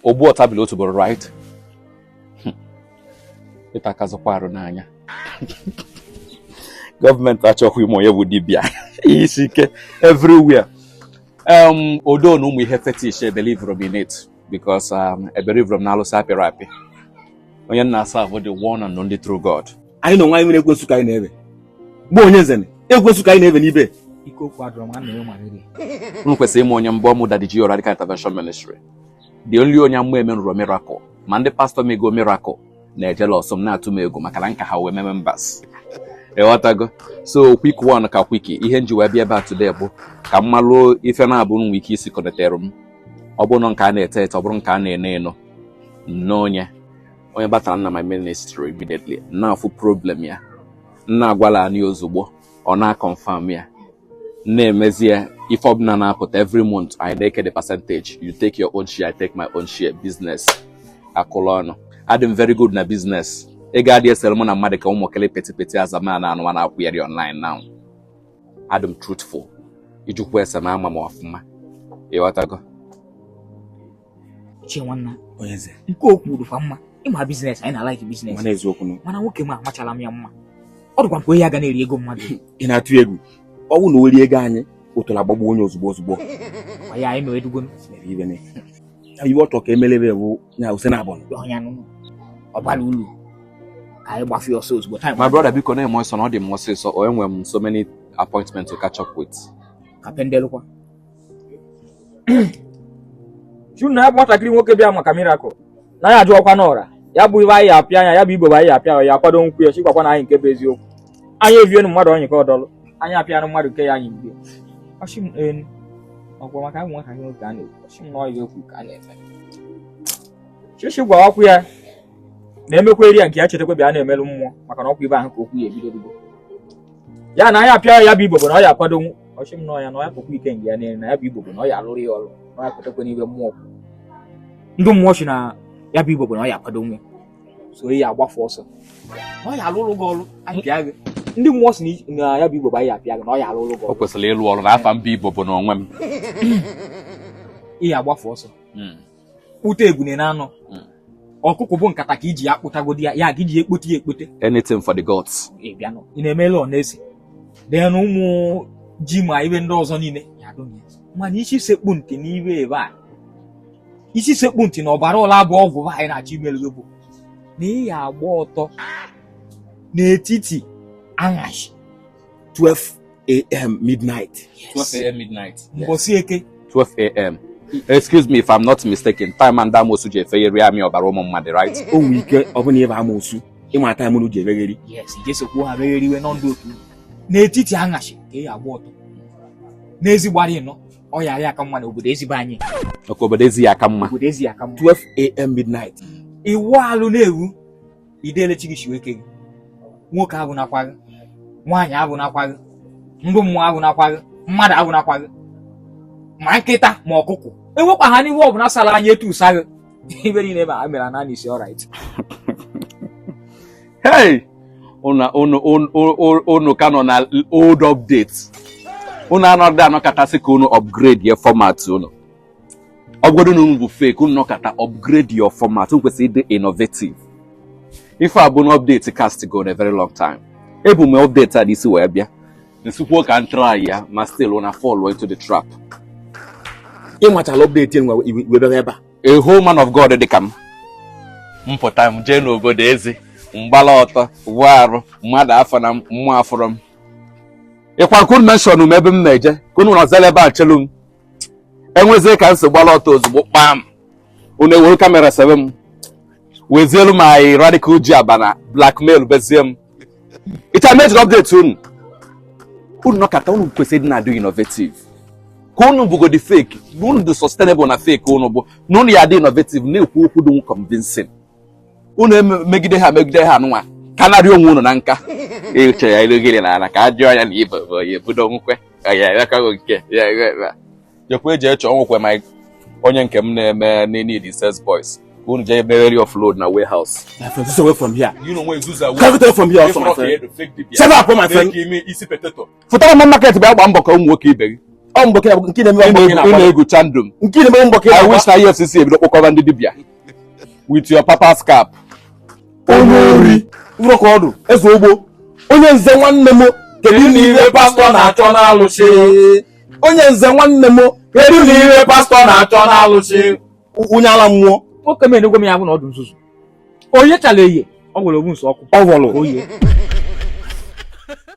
ogbu ọtabili otu bụrụ right hmm. ịta akazụkwa arụ n'anya gọọmenti achọghị ịma onye bụ dibịa ihe isi ike everywhere um, although na ụmụ ihe fetish ebelivro m in it because um, ebelivro m n'alụsị apịrị apị onye m na-aserve bụ the one and only true God anyị na onwe anyị nwere ekwensu ka anyị na-ebe bụ onye nzene ekwensu ka anyị na-ebe n'ibe ike okwu adọrọ nwanne ya nwere unu kwesịrị ịma onye m bụ ọ mụ daddy GO Radical intervention ministry the only onye amụma emenurọ miracle ma ndị pastọ mego miracle na-ejealous m na-atụ m egwu maka na m ka ha nwee members ịghọtago so quick one ka quick ihe m ji wee bịa ebe a today bụ ka m malụ ife na-abụ nwe ike isi connectere m ọ bụrụ nke a na-ete ete ọ bụrụ nke a na-eno eno n'onye onye batara na my ministry immediately m na-afụ problem ya m na-agwala ya ozugbo ọ na-aconfirm ya na-emezie ife ọbụla na-apụta every month anyị na-eke the percentage you take your own share I take my own share business akụlụ ọnụ adị m very good na business ị ga-adị esere mụ na mmadụ ka ụmụkele petty petty azama na anụwa na-akwụgharị online now adị m truthful ị jụkwaa ese na a ma m ọfụma ịghọtago Uche nwanna onye eze nke o kwuru dịkwa mma ị ma business anyị na-alike business mana eziokwu nụ mana nwoke m amachala m ya mma ọ dịkwa m ka onye ya ga na-eri ego mmadụ ị na-atụ egwu ọ wụ na o rie ego anyị otola agbagbuo onye ozugbo ozugbo Kwa ya anyị mere dugo mere ibe na ya iwe ọtọ ka emelebe bụ ya ose na abụọ ọnya nụ ọ bara ulu ka anyị gbafu ọsọ ozugbo time my brother biko na-eme ọsọ na ọ dị m ọsịsọ o enwere m so many appointments to catch up with ka pendelụkwa si unu na ya bụ nwatakịrị nwoke bịa maka miracle na ya ajụọkwa n'ọra ya bụ ibe anyị apịa anya ya bụ ibobo anyị apịa ya akwadonwu ya chikwakwa na anyị nke bụ eziokwu anyị evienu mmadụ onye ka ọdọlụ anyị apịanụ mmadụ nke ya anyị mgbe ọ shị m enu ọkwa maka ya bụ nwatakịrị nwoke a na-ekwu ọ shị m na ọyị okwu ka a na-eme chichi gwa ọkwụ ya na-emekwa eri ya nke ya chetakwa bịa na-emelụ mmụọ maka na ọkwa ibe ahụ ka okwu ya ebidobigo ya na anyị apịa ya bụ ibobo na ọ ya akwadonwu ọ shị m na ọ ya na ọ ya pụkwa ike nge ya niile na ya bụ ibobo na ọ ya alụrụ ya ọrụ na ọ ya kwetakwa n'ibe mmụọ kwụ. ndị mmụọ si na ya bụ ibobo na ọ ya akwadonwu so ị ya agbafu ọsọ na ọ ya alụrụ gị ọrụ apịa gị ndị mmụọ si na i- na ya bụ ibobo anyị apịa gị na ọ ya alụrụ gị o ọrụ kwesịrị ịlụ ọrụ na afa m bụ ibobo na onwe m ị ya agbafu ọsọ Mm. kpụta ebune na anọ hmm. ọkụkụ bụ nkata ka iji ya kpụtagodi ya ya ga iji ya ekpote ya ekpote anything for the gods ị na-emela ọ na-ese then ụmụ ji ma ibe ndị ọzọ niile ya adụghị mana isi sekpu ntị n'ibe ebe a isi sekpu ntị na ọbara ọla bụ ọgwụ anyị na-achọ imelu gị bụ na ị ya agba ọtọ n'etiti anyashị 12 a.m. midnight. Yes. 12 a.m. midnight. Yes. 12 a.m. Excuse me if I'm not mistaken. Time ndị amosu ji efegharị amị ọbara ụmụ mmadụ, right? O nwere ike ọ bụ na ị bụ amosu ịma time unu ji efegharị. Yes, jee sokwu ha fegharịwa nọ ndị otu. N'etiti anyashị ka ị ya-agba ọtọ. N'ezi be anyị, no, ọ ya ya aka mma n'obodo ezi be anyị. Ọkụ obodo ezi ya aka mma. Obodo ezi ya aka mma. 12 a.m. midnight. Ị wụ alụ na-ewu idele chi gị shi wee kee gị nwoke afụnakwa gị nwaanyị afụnakwa gị ndị mmụọ afụnakwa gị mmadụ afụnakwa gị ma nkịta ma ọkụkọ enwekwana ihe ọbụla sara anya etụsa gị ife niile ma ha mere n'isi alright hey unu ka nọ na old update unu anọghị anọkata sị ka unu upgrade ya format unu ọ bụgodu na unu bụ fake unu nọkata upgrade your format unu kwesịrị ịdị innovative ife a bụ na update cast go a very long time ebu m update a n'isi wee bịa m sịkwuo ka m try ya ma still una fall into the trap ị machala update nwa wee bịa ebe a a whole man of God dị ka m m pụta m jee n'obodo ezi m gbala ọtọ wụọ arụ mmadụ afụna m mmụọ afụrọ m ọ kwa ka unu mention m ebe m na-eje ka unu nọzie ebe a chelu m e mezie ka m si gbara ọtọ ozugbo kpam unu ewere kamera sebe m wezielu m anyị radical ji aba na blackmail bezie m ịcha mejiri update unu unu nọkata unu kwesịrị na-adị innovative ka unu bụgodi fake na unu dị sustainable na fake unu bụ na unu ya dị innovative na-ekwu okwu dị convincing unu emegide ha megide ha nwa ka narị onwe unu na nka ịchọ ya ilogiri na ala ka a jụọ ya na ibe bụ onye budo nwukwe ya ewekaghị nke ya ewe jekwa eji echọ nwukwe ma onye nke m na-eme need sales boys unu jee buru offload na warehouse. My friend, just away from here. You know where Zuza Come away from here also, my friend. Shut up, my friend. Give me easy potato. fụtaba market bịa gbaa mbọ ka ụmụ nwoke ibe gị ọ mbọ nke na-eme mbọ ị na-egwucha ndụ m nke na-eme mbọ I wish na EFCC ebido kpọkọba ndị dibịa with your papa's cap onye ori nrọ ka ọdụ eze ogbo Onyeze nwanne m kedu n'ihe pastọ na-achọ n'alụsị Onyeze nwanne m kedu n'ihe pastọ na-achọ n'alụsị onye ala mmụọ nwoke m enegwe m ya bụ na ọdụ nzuzu onye chara eye ọ gwere ogbu nso ọkụ ọ gwọrọ oye